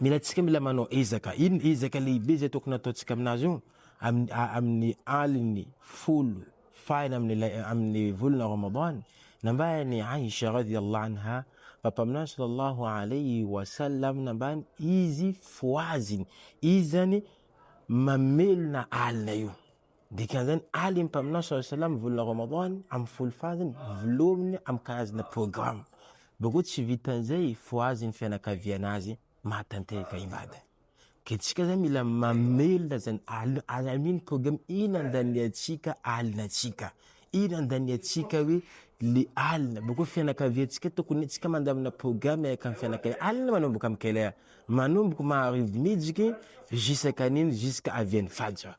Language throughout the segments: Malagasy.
Mila tsika mila manao ezaka. Iny ezaka lehibe izay tokony ataontsika aminazy io amin'ny amin'ny aliny folo farany amin'ny lay amin'ny volana Ramadan. Nambaran'i Aisha radhiyallahu anha fa Mpaminany sallallahu alayhi wa sallam nambany izy fohaziny izany mamelona alina io. Dikan'izany, Ali ny Mpaminany saw salam ny volana Ramadan amin'ny folo farany volohany amin'ny karazana programme. Boko tsy vitan'izay fohazin'ny fianakaviana azy mahatanteraka ibada. Ka antsika izany mila mamelona izany alina ary amino programme ina andaniantsika alina antsika. Ina andaniantsika hoe le alina. Boko fianakaviantsika tokony antsika mandamina programme miaraka amin'ny fianakaviana. Alina manomboka amin'ny quelle heure? Manomboka maharivo mijiky jusqu'à nini? Jusqu'à avian'ny fajr.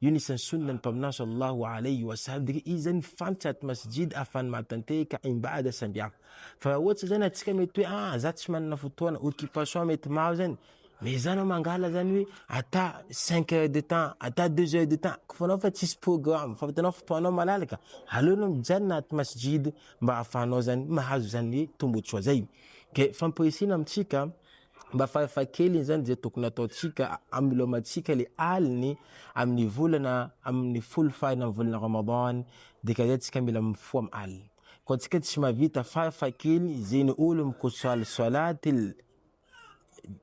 Io ny isan'ny Sunna ny Mpaminany sallallahu alayhi wa salbri izay mifanditra aty Masjid afahany mahatanteheka imbada samihafa. Fa raha ohatra zany atsika mety hoe ah za tsy manana fotoana, occupation mety maro zany, mais za anao mangala zany hoe ata cinq heures de temps, ata deux heures de temps, kôfa anao fa tsisy programme, fa vitanao fotoanao malalaka, aleo anao mijanona aty Masjid mba afahanao zany mahazo zany tombotsoa zay. Ke fampirisihina amintsika Mba farafahakeliny izany dia tokony hataontsika hamelomantsika ilay aliny amin'ny volana amin'ny folo farany amin'ny volana Ramadan dia ka izay tsika mila mifoha amin'ny alina. Koa antsika tsy mahavita farafahakeliny izay ny olo mikosoaly solatil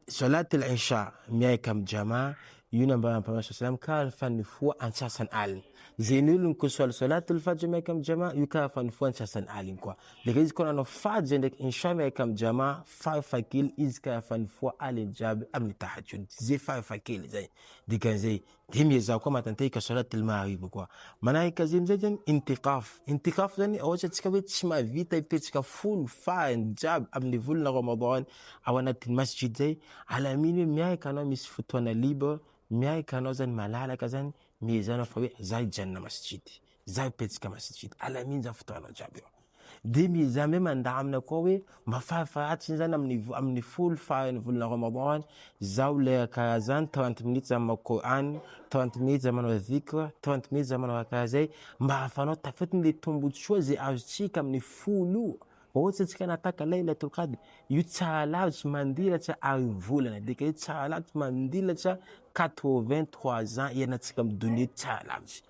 solatil isha miaraka amin'ny jama io nambaran'ny Mpaminany saw salam ka fa nifoha antsasany alina. Izay ny olo mikosoaly solatil fajr miaraka amin'ny jama io ka fa nifoha antsasany aliny koa. Leka izy koa nanao fady zay ndraiky Insha miaraka am Jama farafakely izy ka efa nifoha aliny jiaby aminy tahajjud zay farafakely zay dikan'izay de miezaha koa matantehy ka solat il mahariba koa manahik azy amizay zany intikaf intikaf zany ohatry atsika hoe tsy mahavita hipetsaka folo farany jiaby aminy volana ramadan ao anatiny masjid zay alaminy hoe miaraka anao misy fotoana libre miaraka anao zany malalaka zany miezaha anao fa hoe za hijanona masjid Zay petsika masintsita, alamin'izany fotoana jiaby eo. Dia miezaha hoe mandamina koa hoe mba farafahatsiny izany amin'ny amin'ny folo faran'ny volana Ramadan, zao lera karaha zany, trente minutes zany mamaky Qur'an, trente minutes zany manao dhikr, trente minutes zany manao raha karaha zay, mba ahafahanao tafiditra le tombotsoa zay azontsika amin'ny folo io. Ohatra antsika nataka laylatul qadr, io tsara lavitra mandilatra harivolana, dika hoe tsara lavitra mandilatra quatre vingt trois ans ianantsika amin'ny donia eto tsara lavitra.